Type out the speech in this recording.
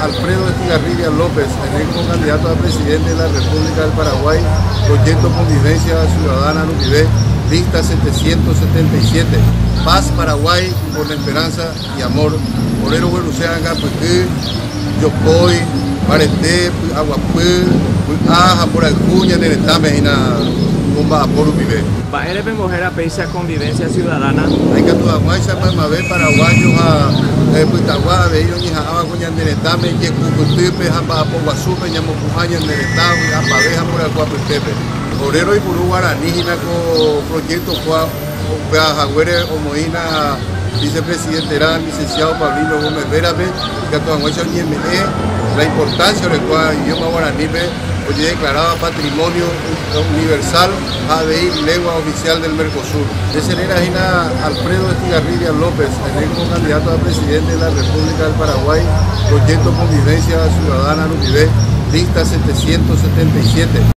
Alfredo Estigarribia López, electo candidato a presidente de la República del Paraguay, proyecto Convivencia Ciudadana Rubivé, lista 777. Paz Paraguay con esperanza Iamor, ore rogueruse rangã pyhy, jopói, mbarete, py'aguapy, vy'a ha mborayhu ñane retãme hína omba'apo rupive. Mba'ére pembohéra péicha convivencia ciudadana? Aikatu hag̃uáicha maymave paraguayo ha pytagua avei roñeha'ãva ko ñande retãme jekupytýpe ha mba'apo guasúpe ñamopu'ã ñande retã vy'a pave ha mborayhu apytépe. Ore roipuru guarani hína ko proyecto kua. Upéva haguére omoĩna Vicepresidente-rã Licenciado Paulino Gómez Vera-pe, ikatu hag̃uáicha oñeme'ẽ la importancia orekuaa idioma guaranípe ojedeclaráva Patrimonio Universal ha avei Lengua Oficial del Mercosur. Teserera hína Alfredo Estigarribia López, ene como candidato a Presidente de la República del Paraguay, Proyecto Convivencia Ciudadana rupive, lista 777.